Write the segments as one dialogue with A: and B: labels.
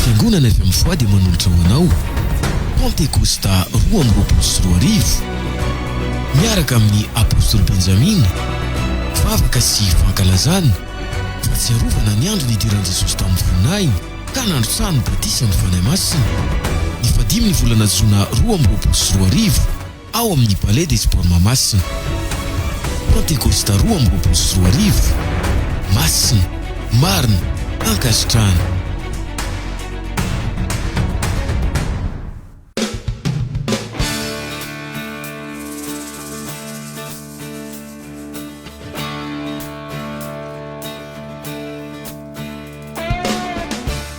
A: Fiangonana avy amin'ny foi dia manolotra ho anao Pentecosta roa amby roapolo sy roa arivo miaraka amin'ny Apostoly Benjamina, vavaka sy fankalazana, fahatsiarovana ny andro nidiran'i Jesosy tamin'ny voninahiny ka nandrotsahany ny Batisan'ny Fanahy Masina, ny fadimy ny volana Jona roa amby roapolo sy roa arivo. ao amin'ny Palais des Sports Mahamasina. Pantekosta roa amby roapolo sy roa arivo, Masina, marina, ankasitrahana.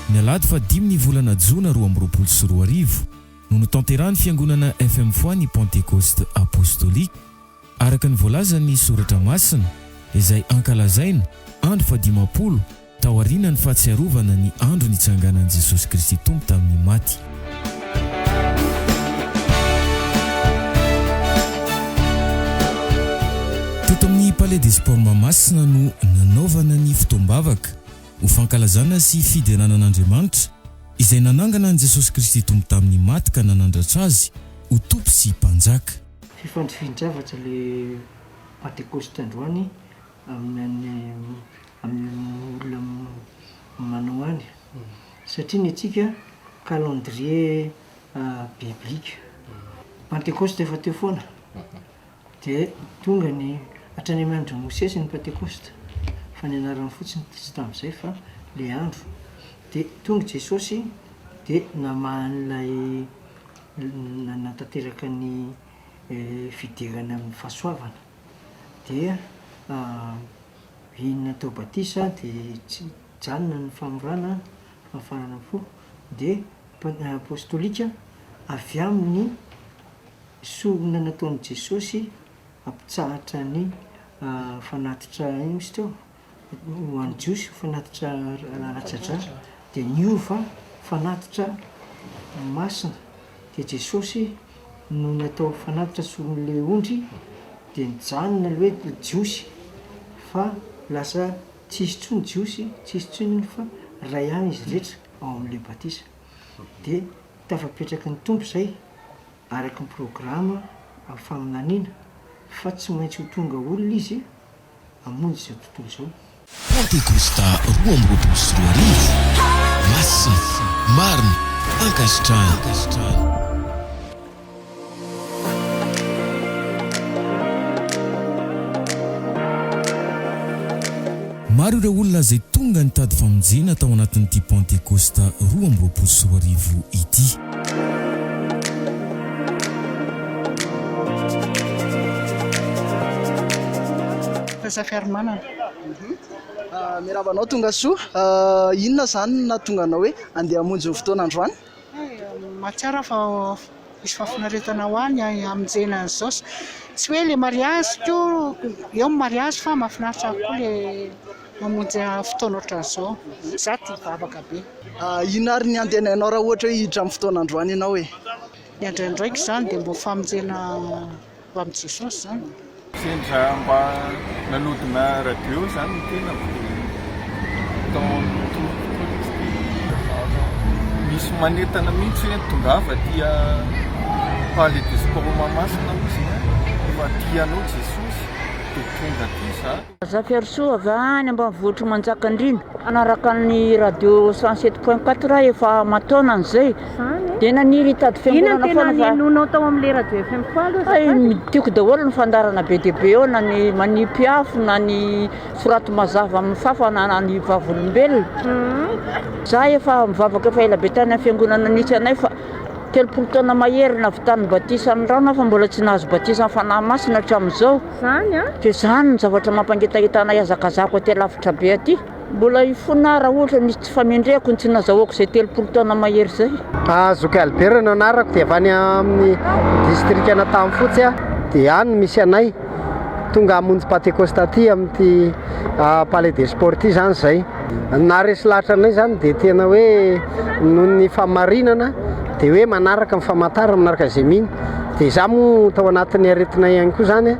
A: Ny alahady fahadimy ny volana jona roa amby roapolo sy roa arivo, no notanterahan'ny Fiangonana FM Foi ny Pantekosta Apostolika, araka ny voalazan'ny Soratra Masina, izay ankalazaina andro fahadimampolo taorianan'ny fahatsiarovana ny andro nitsanganan'i Jesosy Kristy Tompo tamin'ny maty. Teto amin'ny Palais des Sports Mahamasina no nanaovana ny fotoam-bavaka. ho fankalazana sy fiderana an'Andriamanitra izay nanangana an'i Jesosy Kristy Tompo tamin'ny maty ka nanandratra Azy ho Tompo sy Mpanjaka. Fifandifian-javatra
B: ilay Pantekôsty androany amin'ny olona manao any, satria ny antsika calendrier biblique. Ny Pantekôsty efa teo foana, Dia tonga ny hatrany amin'ny andron'i Mosesy ny Pantekosta, fa ny anarany fotsiny tsy tamin'izay fa ilay andro. Dia tonga Jesosy dia namaha an'ilay nanatanteraka ny fiderana amin'ny fahasoavana. Dia iny natao batisa dia tsy hijanona ny famorana fahafarana fo dia Apostolika avy amin'ny sorona nataon'i Jesosy hampitsahatra ny fanatitra ino izy teo? ho an'ny Jiosy fanatitra ara-tsa-dra dia niova fanatitra masina dia Jesosy no natao fanatitra soron'ilay ondry dia nijanona ilay hoe Jiosy fa lasa tsy hisy intsony Jiosy tsy hisy intsony ondry fa iray ihany izy rehetra. ao amin'ilay batisa. Dia tafapetraky ny Tompo izay araka ny programa amin'ny faminaniana fa tsy maintsy ho tonga olona Izy hamonjy izao tontolo izao. Pantekosta
A: roa amby roapolo sy roa arivo, Masina, marina, ankasitrahana. Maro ireo olona izay tonga nitady famonjena tao anatin'ity Pantekosta roa amby roapolo sy roa arivo ity.
C: Fahasakarmanana. Miarahaba anao Tongasoa. Inona izany no nahatonga anao hoe handeha hamonjy ny fotoana androany? Mahatsiaro
D: aho fa misy fahafinaretana ho ahy ny hamonjena an'izao. Tsy hoe ilay mariazy koa, eo ny mariazy fa mahafinaritra ahy koa ilay mamonjy fotoana ohatran'izao. Izaho tia vavaka be. Inona ary ny
C: handenainao raha ohatra hoe hiditra amin'ny fotoana androany ianao e? Ny androandraiko
D: izany dia mba ho famonjena tamin'i Jesosy izany? Sendra mba
E: nanodina radio izany ny tenako dia tao amin'ny tompoko koa izy dia misy manentana mihitsy hoe tongava aty Palais de Sport Mahamasina hozy a, aty anao Jesosy dia tonga aty za. Razafiarisoa avy
F: any ambanivohitr'i Manjakandriana. Manaraka ny radio 107 point 4 aho efa aman-taonany izay. Dia naniry hitady fiangonana foana fa. Inona no tena nihenoanao tao amin'ilay radio
G: FM falo azafady? Hay, tiako daholo ny fandaharana
F: be dia be ao na ny manipy afo na ny soraty mazava amin'ny fafa na ny vavolombelona. Izaho efa nivavaka efa ela be tany amin'ny fiangonana nisy anay fa telopolo taona mahery nahavitany batisa ny rano aho fa mbola tsy nahazo batisan'ny Fanahy Masina hatramin'izao. izany an! Dia
G: izany no
F: zavatra mampangetaheta anay hazakazako aty alavitra be aty. Mbola hifona aho raha ohatra misy tsy famendrehako ny tsy nazahoako izay telopolo taona mahery izay. Zoky Albert
H: no anarako dia avy any amin'ny distrikan'Antahafotsy aho dia any no misy anay, tonga hamonjy Pantekosta aty amin'ity Palais des Sports ity izany izay. Ny naharesy lahatra anay izany dia tena hoe noho ny fahamarinana dia hoe manaraka ny famantarana, manaraka izay mino. Dia izaho moa tao anatin'ny aretinay ihany koa izany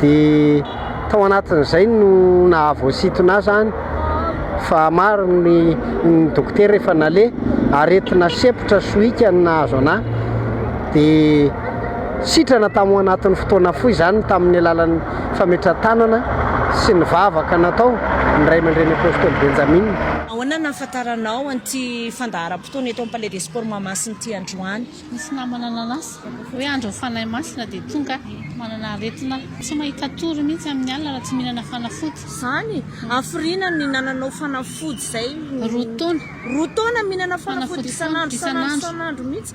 H: dia tao anatin'izay no nahavoasintona ahy izany fa maro ny ny dokotera efa naleha, aretina sempotra sohika no nahazo an'ahy dia sitrana tao anatin'ny fotoana fohy izany tamin'ny alalan'ny fametra-tanana sy ny vavaka natao ny Ray aman-dReny Apôstôly Benjamina. Ahoana no
G: nahafantaranao an'ity fandaharam-potoana eto amin'ny Palais des Sports Mahamasina ity androany? Nisy namana
I: nanasa hoe andron'ny Fanahy Masina dia tonga aho. Manana aretina tsy mahita tory mihitsy amin'ny alina raha tsy mihinana fanafody. Izany?
G: Hafiriana ny nananao fanafody izay. Roa taona. Roa taona mihinana fanafody isan'andro isan'andro isan'andro mihitsy.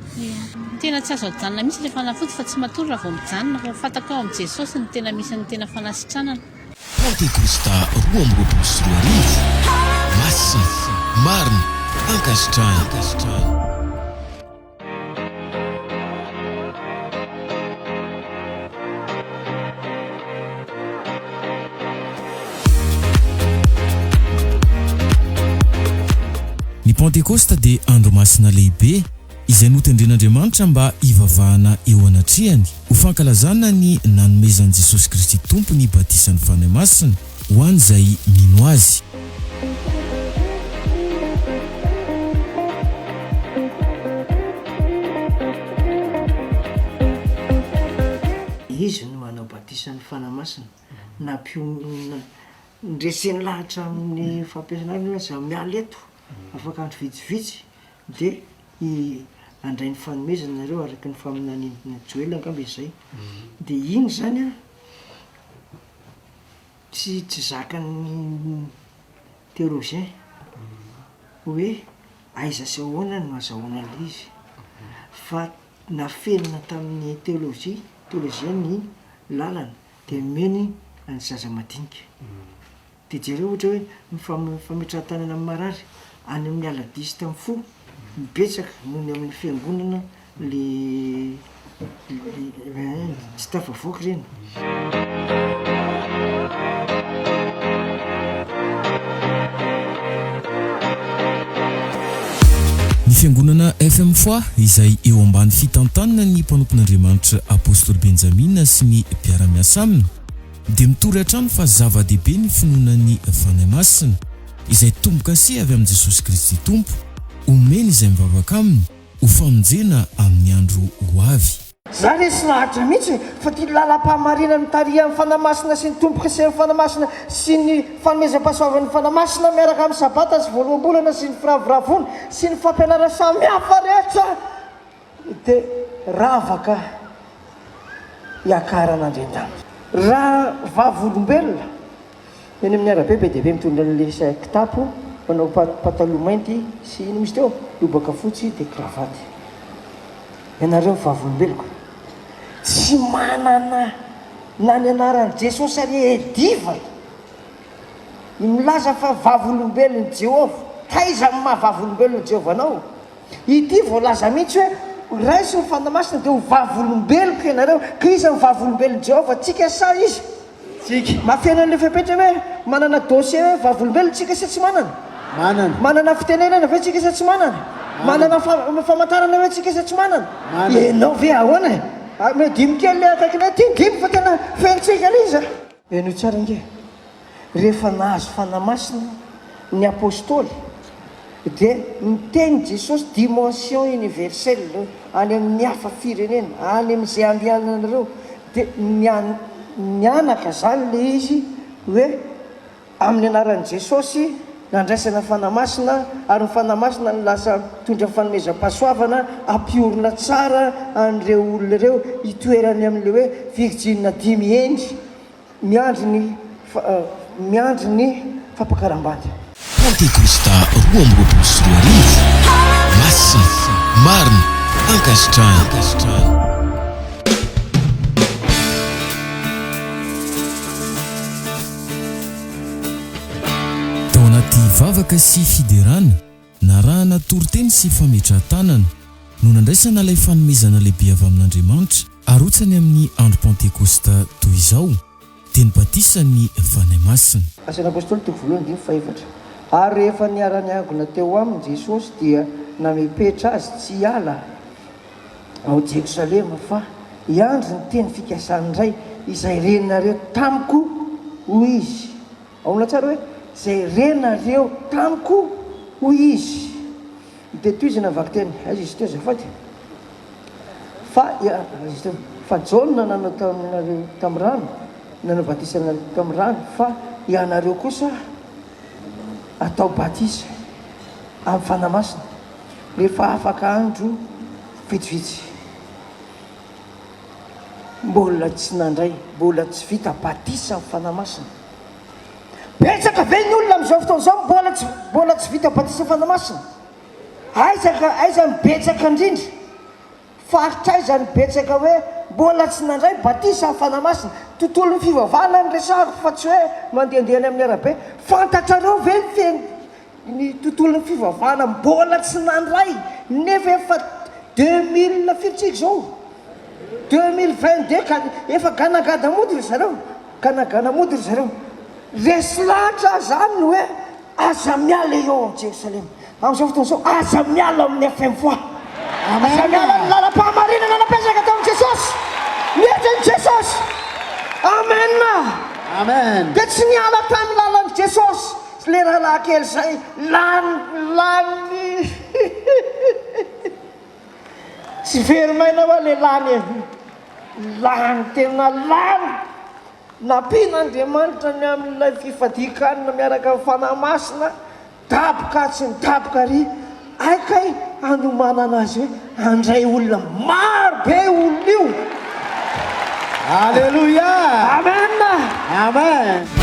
G: Tena tsy azo
I: ajanona mihitsy ilay fanafody fa tsy matory raha vao mijanona fa fantako hoe ao amin'i Jesosy no tena misy ny tena fanasitranana. Pantekôsta
A: roa amby roapolo sy roa arivo, Masina, marina, ankasitrahana. Ny Pantekôsta dia andro masina lehibe. izay notendren'Andriamanitra mba hivavahana eo anatrehany, ho fankalazana ny nanomezan'i Jesosy Kristy Tompo ny batisan'ny Fanahy Masina ho an'izay mino Azy.
B: Izy no manao batisan'ny Fanahy Masina, na mpionona. Ndresen'ny lahatra amin'ny fampiasana azy hoe aza miala eto. Afaka andro vitsivitsy dia handray ny fanomezana nareo araka ny faminaniana Joela angamba izy zay dia iny zany an tsy tsy zakan'ny theologien hoe aiza sy ahoana no azahoana an'ilay izy fa nafenina tamin'ny theologie theologien ny lalana dia omeny an'ny zaza madinika. Dia jereo ohatra hoe ny fametrahan-tanana amin'ny marary any amin'ny aladies tamin'ny fo no betsaka noho ny amin'ny fiangonana le tsy tafavoaka Ny fiangonana FM Foi izay eo ambany fitantanana ny mpanompon'Andriamanitra Apostoly Benjamina sy ny mpiara-miasa aminy, dia mitory hatrany fa zava-dehibe ny finoana ny Fanahy Masina, izay tombo-kase avy amin'i Jesosy Kristy Tompo, omeny izay mivavaka Aminy ho famonjena amin'ny andro ho avy. Za resy lahatra
J: mihitsy fa ty lalam-pahamarinana mitarihan'ny Fanahy Masina sy ny tombo-kasen'ny Fanahy Masina sy ny fanomezam-pahasoavan'ny Fanahy Masina miaraka amin'ny Sabata sy Voaloham-bolana sy ny firavoravoana sy ny fampianarana samihafa rehetra Te rava ka hiakarana andriandanitra. Raha vavolombelona, eny amin'ny arabe be dia be mitondra an'ilay sa kitapo, manao pataloha mainty sy inona misy teo? lobaka fotsy dia cravate. Ianareo vavolombeloko tsy manana na ny anaran'i Jesosy ary e diva e! Ny milaza fa vavolombelon'i Jehovah, taiza amin'ny maha vavolombelon'i Jehovah anao? Ity voalaza mihitsy hoe, Horaisy ny fanahy masina, dia ho vavolombeloko ianareo. Ka iza no vavolombelon'i Jehovah, tsika sa izy? Tsika. Mahafeno an'ilay fepetra hoe, Manana dossier hoe vavolombelona tsika sa tsy manana? Manana. Manana fitenenana ve tsika sa tsy manana? Manana. Manana famantarana ve tsika sa tsy manana? Manana. Ianao ve ahoana e? Mihoa dimy kely ilay akaikinao ety, dimy fa tena fenontsika ilay izy a! Henoy tsara ange, rehefa nahazo Fanahy Masina ny Apostoly dia niteny Jesosy dimension universelle any amin'ny hafa firenena, any amin'izay andehananareo dia mianaka izany ilay izy hoe Amin'ny anaran'i Jesosy, nandraisana Fanahy Masina, ary ny Fanahy Masina no lasa mitondra fanomezam-pahasoavana, ampiorina tsara an'ireo olona ireo hitoerany amin'ilay hoe virjinina dimy hendry miandry ny miandry ny fampakaram-bady. Pantekosta
A: roa amby roapolo sy roa arivo, Masina, marina, ankasitrahana. Tao anaty vavaka sy fiderana, narahana toriteny sy fametrahan-tanana, no nandraisana ilay fanomezana lehibe avy amin'Andriamanitra, arotsany amin'ny andro Pantekosta toy izao, dia ny batisan'ny Fanahy Masina. Asan'ny Apôstôly toko
J: voalohany andininy fahefatra Ary rehefa niara-niangona teo aminy Jesosy dia namepetra azy tsy hiala, ao Jerosalema fa hiandry ny teny fikasan'ny Ray izay renareo tamiko, hoy Izy. Aola tsara hoe, izay renareo tamiko, hoy Izy. Dia toy izay na vakiteny, aiza izy ity azafady? Fa, aiza izy ity? Fa Jaona nanao taminareo tamin'ny rano, nanao batisa anareo tamin'ny rano, fa ianareo kosa atao batisa amin'ny Fanahy Masina. Efa afaka andro vitsivitsy. Mbola tsy nandray, mbola tsy vita batisa ny Fanahy Masina. Betsaka ve ny olona amin'izao fotoana izao mbola tsy mbola tsy vita batisa ny Fanahy Masina? Aiza aiza no betsaka indrindra? Faritra aiza ny betsaka hoe mbola tsy nandray batisa ny Fanahy Masina? Tontolon'ny fivavahana no resahako fa tsy hoe mandehandeha any amin'ny arabe. Fantatrareo ve ny fehiny ny tontolon'ny fivavahana mbola tsy nandray nefa efa deux mille firy tsika izao? Deux mille vingt deux ka efa ganagada mody ry zareo, ganagana mody ry zareo. Resy lahatra aho izany hoe. Aza miala eo amin'i Jerosalema. Amin'izao fotoana izao, aza miala amin'ny FM Voix. Aza miala amin'ny lalam-pahamarinana nampiasainga tamin'i Jesosy. Mihevitra an'i Jesosy. Amen. Amen.
H: Dia tsy niala
J: tamin'ny lalan'i Jesosy ilay rahalahy kely izay lany, lany. Tsy very maina ho'a ilay lany e. Lany, tena lany. Nampian'Andriamanitra ny amin'ilay fifadian-kanina miaraka amin'ny Fanahy Masina, daboka atsy ny daboka ary hay kay hanomanana azy hoe handray olona maro be io olona io. Aleloia!
H: Amen!
J: Amen!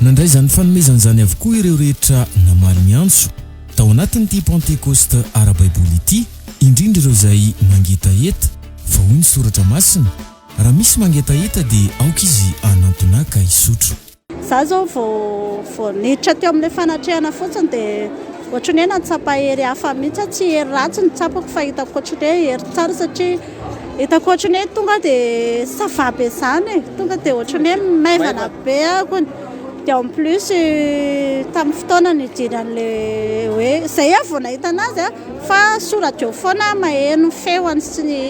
A: Nandray izany fanomezana izany avokoa ireo rehetra namaly ny antso tao anatin'ity Pantekosta ara-baiboly ity, indrindra ireo izay mangetaheta, fa hoy ny Soratra Masina, Raha misy mangetaheta, dia aoka izy hanantona ka hisotro. Izaho izao vao
K: vao niditra teo amin'ilay fanatrehana fotsiny dia ohatran'ny hoe nahatsapa hery hafa mihitsy aho, tsy hery ratsy no tsapako fa hitako ohatran'ny hoe hery tsara satria Eto ankoatriny eto tonga dia ça va be zany e, tonga dia ohatran'ny hoe maivana be akony, dia en plus tamin'ny fotoana nidiran'ilay hoe, zay aho vao nahita anazy a, fa sous radio foana maheno ny feony sy ny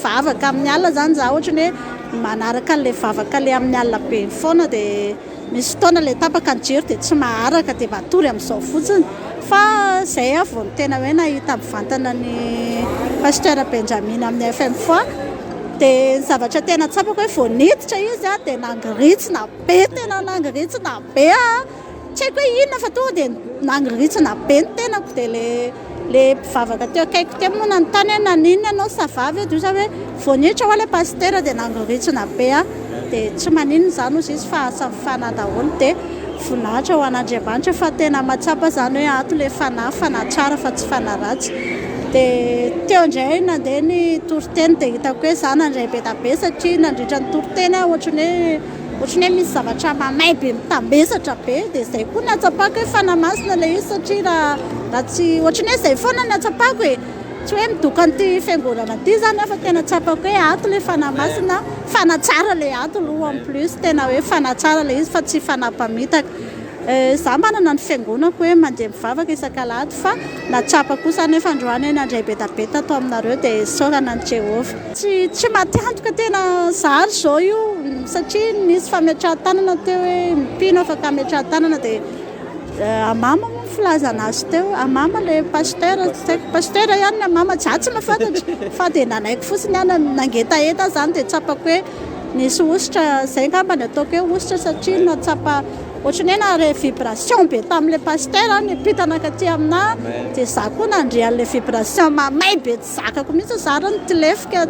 K: vavaka amin'ny alina zany za, ohatran'ny hoe manaraka an'ilay vavaka le amin'ny alina be iny foana dia. Misy fotoana ilay tapaka ny jiro dia tsy maharaka dia matory amin'izao fotsiny. Fa izay aho vao tena hoe nahita mivantana an'i Pasteur Benjamin amin'ny FM Foi. Dia ny zavatra tena tsapako hoe vao niditra izy dia nangirintsina be ny tenany, nangirintsina be aho. Tsy haiko hoe inona fa tonga dia nangirintsina be ny tenako dia ilay. le mpivavaka teo akaiko teo moa nanontany hoe naninona ianao ça va ve dia hoy za hoe vao niditra ho'a le pasitera dia nangoritsina be aho dia tsy maninona izany hozy izy fa asa mifana daholo dia voninahitra ho an'Andriamanitra fa tena mahatsapa izany hoe ato le fanahy fanahy tsara fa tsy fanahy ratsy dia teo indray nandeha ny toriteny dia hitako hoe za nandray be dia be satria nandritra ny toriteny aho ohatran'ny hoe Ohatry ny hoe misy zavatra mamay be mitambesatra be dia izay koa no ahatsapako hoe fanahy masina ilay izy satria raha raha tsy ohatry ny hoe izay foana no ahatsapako e! tsy hoe midoka an'ity fiangonana ity izany aho fa tena tsapako hoe ato ilay fanahy masina, fanahy tsara ilay ato aloha en plus tena hoe fanahy tsara ilay izy fa tsy fanahy mpamitaka. Izaho manana ny fiangonako hoe mandeha mivavaka isak'alahady fa na tsapa kosa anefa androany hoe nandray betabeta ato aminareo dia isaorana an'i Jehovah. Tsy tsy matiantoka tena zary izao io satria nisy fametrahan-tanana teo hoe mpino afaka hametrahan-tanana dia hamama moa ny filazana azy teo, hamama ilay pasteur, tsy haiko pasteur ihany ny hamama, izaho tsy mahafantatra fa dia nalaiko fotsiny aho na- nangetaheta aho izany dia tsapako hoe nisy hosotra, izay angamba ny ataoko hoe hosotra satria nahatsapa Ohatry ny hoe nahare vibration be tamin'ilay pasteur aho nipita nankaty aminà dia izaho koa nandre an'ilay vibration mamay be tsy zakako mihitsy izaho ary nitsilefika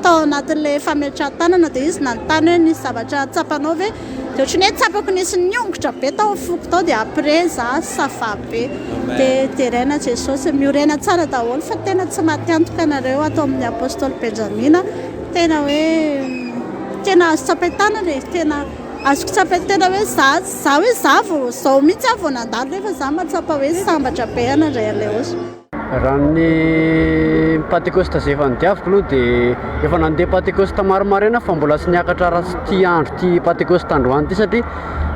K: tao anatin'ilay fametrahan-tanana dia izy nanontany hoe nisy zavatra tsapanao ve dia ohatry ny hoe tsapako nisy niongotra be tao amin'ny foko tao dia après izaho ça va be dia deraina Jesosy miorena tsara daholo fa tena tsy maty antoka nareo ato amin'ny Apostoly Benjamina tena hoe tena azo tsapain-tanana e tena Azoko tsapainy tena hoe za, za hoe za vao, zao mihitsy aho vao nandalo nefa za mahatsapa hoe sambatra be anà Andry Aleôsy. Raha
H: ny Pantekosta izay efa nodiaviko aloha dia efa nandeha Pantekosta maro maraina aho fa mbola tsy niakatra raha tsy ity andro ity Pantekosta androany ity satria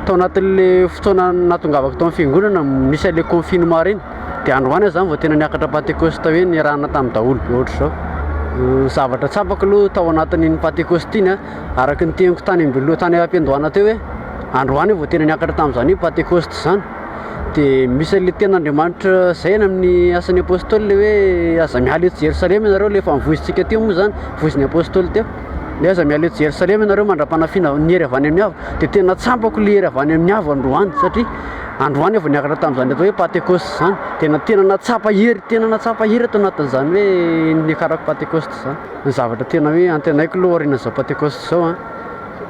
H: tao anatin'le fotoana nahatongavako tao amin'ny fiangonana nisy an'le confinement reny dia androany aho zany vao tena niakatra Pantekosta hoe nirahana tamin'ny daholo ohatr'izao. Zavatra tsapako aloha tao anatin'iny Pantekosta iny a Araka ny teniko tany am-biloha tany am-piandohana teo hoe androany vao tena niakatra tamin'izany hoe Pantekosta izany. Dia misy an'ilay tenin'Andriamanitra zaina amin'ny Asan'ny Apôstôly ilay hoe aza miala eto Jerosalema ianareo, ilay efa novoizintsika teo moa izany, voizin'ny Apôstôly teo. Hoe aza miala eto Jerosalema ianareo mandra-panafiana ny hery avy any amin'ny avo. Dia tena tsapako ilay hery avy any amin'ny avo androany satria androany aho vao niakatra tamin'izany atao hoe Pantekosta izany. Tena tena nahatsapa hery, tena nahatsapa hery ato anatin'izany hoe niakarako Pantekosta izany. Ny zavatra tena hoe antenaiko aloha aorian'izao Pentecost izao an,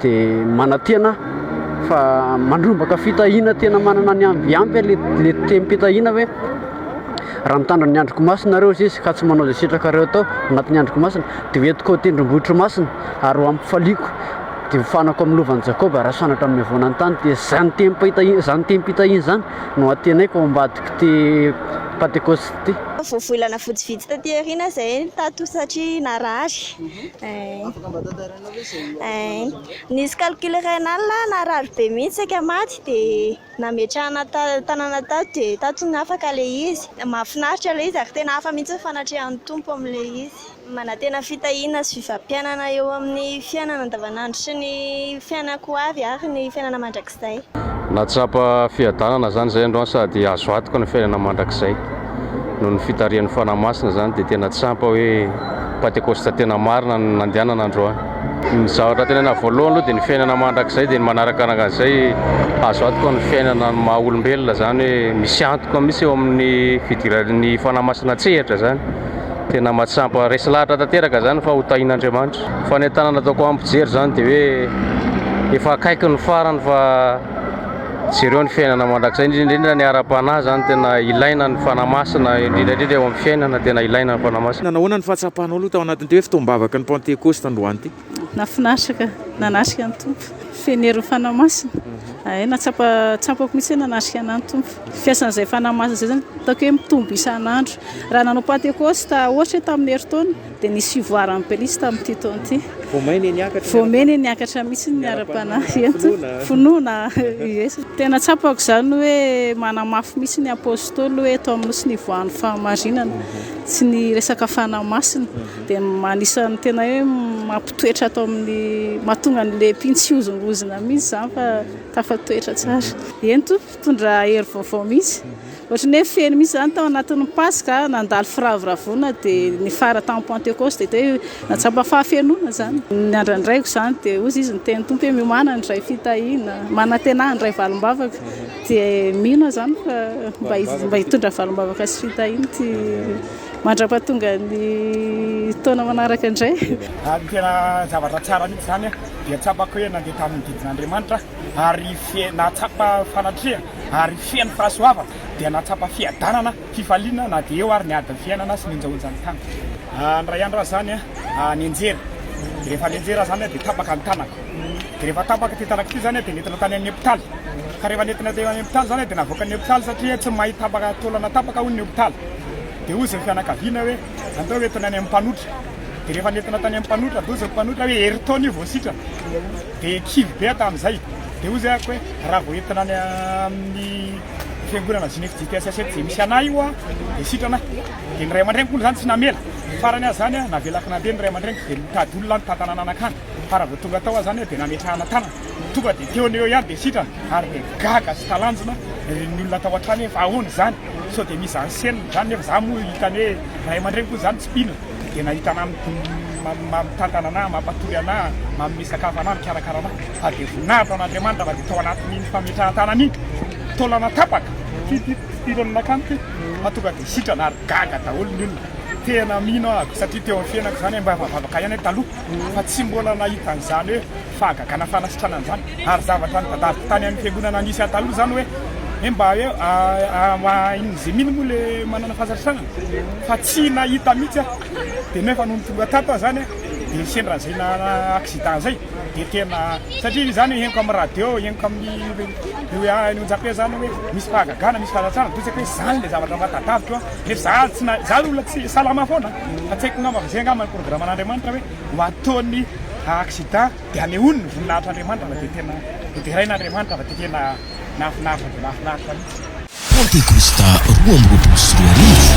H: dia manantena aho fa mandrombaka fitahiana tena manana ny am- ampy le le tem-pitahiana hoe raha mitandrina ny androko masina nareo hoy Izy ka tsy manao izay sitrakareo atao anatin'ny androko masina dia ho entiko ao an-tendrombohitro masina ary ho ampifaliako dia hofanako amin'ny lovan'i Jakoba raha sanatria mihavona ny tany, dia izany tem-pitahiana izany tem-pitahiana izany no antenaiko ao ambadik'ity Pentecost. be. Voavolana vitsy
L: vitsy taty aoriana izay tato satria narary. Afaka mba tantarainao ve izay nihaonanao tato? Nisy calcul rénal narary be mihitsy saika maty dia nametrahana tanana tato dia tato no afaka ilay izy. Mahafinaritra ilay izy ary tena hafa mihitsy ny fanatrehan'ny Tompo amin'ilay izy. Manantena fitahiana sy fifampiainana eo amin'ny fiainana andavanandro sy ny fiainana ko avy ary ny fiainana mandrakizay. Nahatsapa
M: fiadanana izany izay androany sady azo antoka ny fiainana mandrakizay. Noho ny fitarihan'ny Fanahy Masina izany dia tena tsy ampy hoe Pantekosta tena marina no nandehanana androany. Ny zavatra antenaina voalohany aloha dia ny fiainana mandrakizay dia ny manarakaraka an'izay azo antoka ny fiainana ny maha olombelona izany hoe misy antoka mihitsy eo amin'ny fidiran'ny Fanahy Masina an-tsehatra izany Tena mahatsampa, resy lahatra tanteraka izany fa ho tahin'Andriamanitra. Fanentanana ataoko ampijery izany dia hoe efa akaiky ny farany fa jereo ny fiainana mandrakizay indrindra indrindra ny ara-panahy izany tena ilaina ny Fanahy Masina indrindra indrindra eo amin'ny fiainana tena ilaina ny Fanahy Masina. Nanahona ny fahatsapanao aloha
N: tao anatin'ity hoe fotoam-bavaky ny Pantekosta androany ity? Nafinaritra ka!
K: Nanatrika ny Tompo. Feno herin'ny Fanahy Masina. Hay, nahatsapa tsapako mihitsy hoe nanatrika an'ahy ny Tompo. Fiasan'izay Fanahy Masina izay izany hitako hoe mitombo isan'andro. Raha nanao Pantekosta ohatra hoe tamin'ny herintaona dia nisy fivoaran'ny pelitsy tamin'ity taona ity. Voameny niakatra. Voameny niakatra mihitsy ny ara-panahy. Finoana. Finoana. Yes. Tena tsapako izany hoe manamafy mihitsy ny Apôstôly hoe eto amin'ny Nosy nivoahan'ny fahamarinana. Tsy ny resaka Fanahy Masina. Dia anisan'ny tena hoe mampitoetra ato amin'ny, mahatonga ny lepy tsy hozongozona mihitsy izany fa tafatoetra tsara. Eny tompoko, mitondra hery vaovao mihitsy. Ohatran'ny hoe feno mihitsy izany tao anatin'ny Paska, nandalo firavoravoana dia nifara tamin'ny Pantekosta dia hoe nahatsapa fahafenoana izany. Ny andrandraiko izany dia hozy izy niteny Tompo hoe miomana ny iray fitahiana, manantena ahy ny iray valim-bavaka. Dia mino aho izany fa mba hitondra valim-bavaka sy fitahiana ity. Mandrapatonga ny taona manaraka indray. Ary tena
O: zavatra tsara mihitsy izany an, dia tsapako hoe nandeha tamin'ny didin'Andriamanitra aho ary nahatsapa fanatrehana ary feno fahasoavana, dia nahatsapa fiadanana, fifaliana na dia eo ary ny adin'ny fiainana sy ny onjaonjan'ny tany. Indray andro aho izany nianjera, dia rehefa nianjera aho izany dia tapaka ny tanako, dia rehefa tapaka ity tanako ity izany dia nentina tany amin'ny hopitaly, ka rehefa nentina teo amin'ny hopitaly izany dia navoakan'ny hopitaly satria tsy mahay tapaka taolana tapaka hono ny hopitaly. Dia hoy izay fianakaviana hoe, Andao entina any amin'ny mpanotra. Dia rehefa nentina tany amin'ny mpanotra, dia hoy izay mpanotra hoe, Herintaona io vao sitrana. Dia kivy be aho tamin'izay. Dia hoy izay amiko hoe, Raha vao entina any amin'ny fiangonana Zinef JTSS eto Jemisiana io aho, dia sitrana aho. Dia ny ray aman-dreniko hono izany tsy namela. Farany aza izany, navelako nandeha ny ray aman-dreniko, dia nitady olona nitantana nanakana. Fa raha vao tonga tao aho izany, dia nametrahana tanana. Tonga dia teo an'eo ihany dia sitrana ary dia gaga sy talanjona ny olona tao an-trano hoe fa ahoana izany? Sao dia misy zen-scene izany? Nefa izaho moa hitany hoe ray aman-dreny koa izany tsy mpino dia nahita anà mitantana anà, mampatory anà, manome sakafo anà, mikarakara anà. Fa dia voninahitra an'Andriamanitra fa dia tao anatin'iny fametrahan-tanana iny, taolana tapaka, fidiram-pidirana nankany ity fa tonga dia sitrana ary gaga daholo ny olona. Tena mino aho satria teo amin'ny fiainako izany hoe mba vavaka ihany aho taloha fa tsy mbola nahita an'izany hoe. fahagagana fanasitrana an'izany ary zavatra nitadiaviko tany amin'ny fiangonana nisy ahy taloha izany hoe hoe mba hoe ahain'ny zemina moa le manana fahasarintranana fa tsy nahita mihitsy aho dia nefa nony tonga tato aho izany dia sendra izay nana accident izay dia tena satria izany henoko amin'ny radio henoko amin'ny io ahy ny onjape izany hoe misy fahagagana misy fahasarintranana dia tsy haiko hoe izany ilay zavatra mba tadiaviko an nefa izaho tsy na izaho olona tsy salama foana fa tsy haiko angamba fa izay angamba ny programme an'Andriamanitra hoe ho ataony accident dia anehoany ny voninahitr' Andriamanitra fa dia tena hoderain' Andriamanitra fa dia tena nahafinaritra dia mahafinaritra mihitsy. Pantekosta
A: roa amby roapolo sy roa arivo,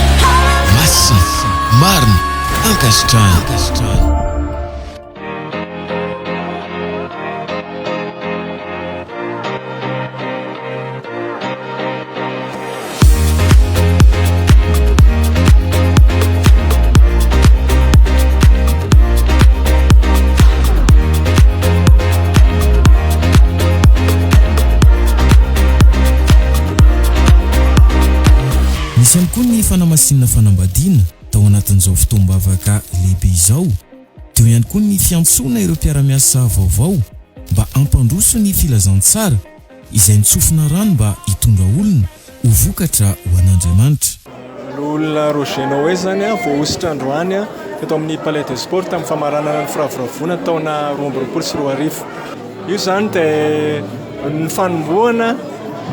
A: Masina, marina, ankasitrahana. Nisy ihany koa ny fanamasinana fanambadiana tao anatin'izao fotoam-bavaka lehibe izao. Teo ihany koa ny fiantsoana ireo mpiara-miasa vaovao mba hampandroso ny filazantsara. Izay nitsofina rano mba hitondra olona ho vokatra ho an'Andriamanitra. Loholona
P: Roger Noé izany voahosotra androany teto amin'ny Palais des Sports tamin'ny famaranana ny firavoravoana taona roa amby roapolo sy roa arivo. Io izany dia ny fanombohana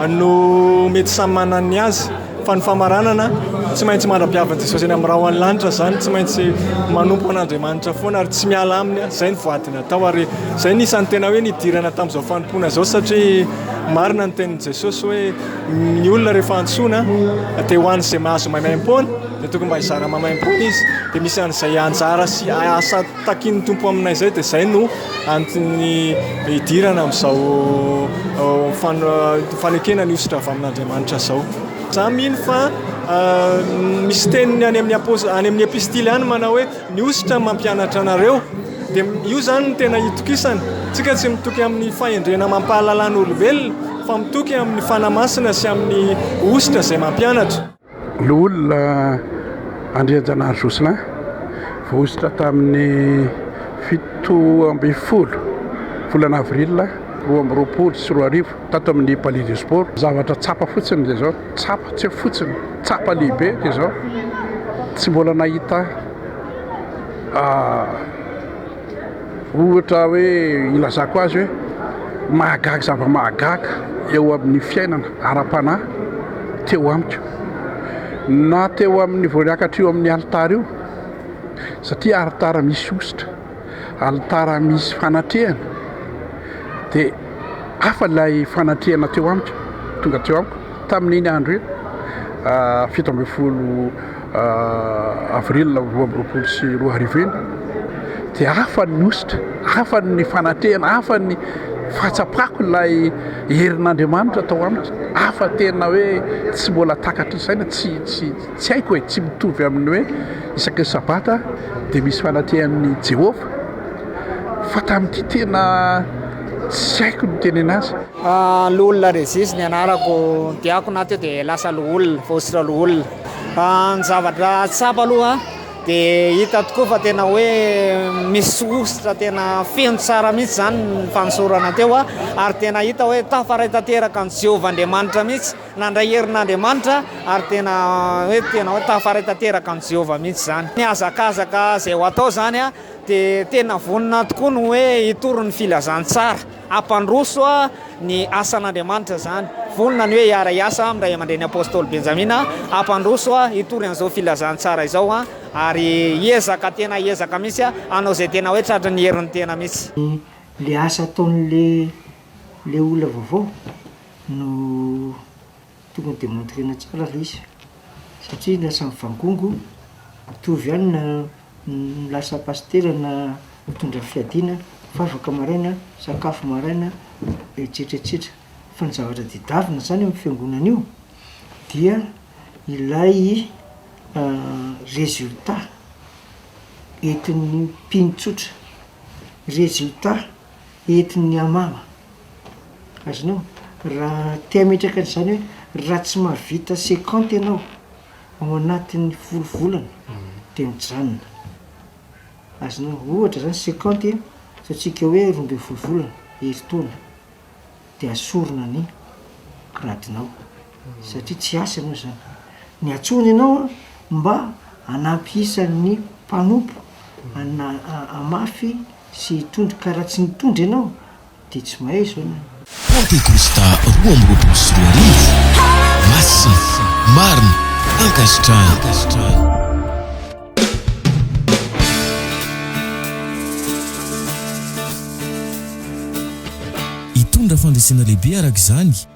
P: no mety samy manana ny azy. Fa ny famaranana, tsy maintsy mandra-piavin'i Jesosy eny amin'ny rahon'ny lanitra izany, tsy maintsy manompo an'Andriamanitra foana ary tsy miala aminy, izay ny voady natao ary izay no isan'ny tena hoe nidirana tamin'izao fanompoana izao satria marina ny tenin'i Jesosy hoe ny olona rehefa antsoina dia ho an'izay mahazo maimaim-poana dia tokony mba hizara maimaim-poana izy dia misy an'izay anjara sy asa Takian'ny Tompo aminay izay dia izay no antony hidirana amin'izao fanekena ny hosotra avy amin'Andriamanitra izao. Izaho mino fa misy teniny any amin'ny apost- any amin'ny epistily any manao hoe ny hosotra mampianatra anareo. Dia io izany no tena itokisana. Isika tsy mitoky amin'ny fahendrena amam-pahalalana olombelona fa mitoky amin'ny Fanahy Masina sy amin'ny hosotra izay mampianatra. Loholona
Q: Andrianjanahary Jocelyn, voahosotra tamin'ny fito ambin'ny folo volana avril roa amby roapolo sy roa arivo tato amin'ny Palais des Sports. Zavatra tsapa fotsiny dia izao, tsapa, tsy hoe fotsiny, tsapa lehibe dia izao, tsy mbola nahita. Ohatra hoe ilazako azy hoe mahagaga zava-mahagaga eo amin'ny fiainana ara-panahy teo amiko na teo amin'ny vao niakatra io amin'ny alitara io satria alitara misy hosotra, alitara misy fanatrehana dia hafa ilay fanatrehana teo amiko tonga teo amiko tamin'iny andro iny fito ambin'ny folo Avril roa amby roapolo sy roa arivo iny dia hafany ny hosotra, hafany ny fanatehana, hafany ny fahatsapako ilay herin'Andriamanitra tao amiko, hafa tena hoe tsy mbola takatry ny saina, tsy tsy tsy haiko e, tsy mitovy amin'ny hoe isaky ny sabata dia misy fanatehan'i Jehovah fa tamin'ity tena tsy haiko ny hitenena azy. Loholona
R: Regis ny anarako, diakona aho teo dia lasa loholona, voahosotra loholona. Ny zavatra tsapa aloha dia hita tokoa fa tena hoe misy hosotra tena feno tsara mihitsy izany ny fanosorana teo ary tena hita hoe tafaray tanteraka an'i Jehovah Andriamanitra mihitsy. Nandray herin'Andriamanitra ary tena hoe tena hoe tafaray tanteraka an'i Jehovah mihitsy izany. Ny hazakazaka izay ho atao izany dia tena vonona tokoa ny hoe hitory ny filazantsara. Hampandroso ny asan'Andriamanitra izany. Vonona ny hoe hiara hiasa amin'ny Ray aman-dReny Apostoly Benjamina hampandroso hitory an'izao filazantsara izao ary hiezaka tena hiezaka mihitsy hanao izay tena hoe tratry ny herin'ny tena mihitsy. Ilay asa
B: ataon'ilay ilay olona vaovao no tokony demontrena tsara ilay izy satria lasa mivangongo mitovy ihany na Ny lasa pasitera na mitondra fiadiana, mivavaka maraina, misakafo maraina, etsetra etsetra. Fa ny zavatra tedavina zany amin'ny fiangonana io dia ilay résultat entin'ny mpino tsotra, résultat entin'ny hamama. Azonao? Raha te hametraka an'zany hoe raha tsy mahavita cinquante ianao Ao anatin'ny folo volana dia mijanona. Azonao ohatra izany cinquante a, ataontsika hoe roa ambin'ny folo volana, herintaona, dia asorina ny gradinao satria tsy asa ianao izany. Ny antsoiny ianao mba hanampy isa ny mpanompo hamafy sy hitondra ka raha tsy nitondra ianao, Dia tsy mahay izao ny anao. Pantekosta
A: roa amby roapolo sy roa arivo, Masina, marina, ankasitrahana. Hitondra fandresena lehibe araka izany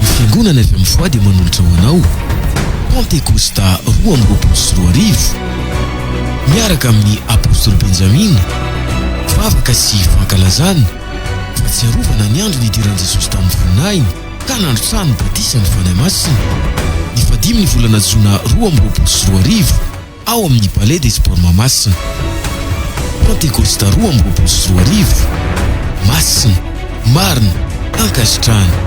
A: Ny Fiangonana avy amin'ny foi dia manolotra ho anao Pentecosta roa amby roapolo sy roa arivo miaraka amin'ny Apostoly Benjamina, vavaka sy fankalazana, fahatsiarovana ny andro nidiran'i Jesosy tamin'ny voninahiny ka nandrotsahany ny Batisan'ny Fanahy Masina, ny fadimn'ny volana Jona roa amby roapolo sy roa arivo. ao amin'ny Palais des Sports Mahamasina. Pantekosta roa amby roapolo sy roa arivo, masina, marina, ankasitrahana.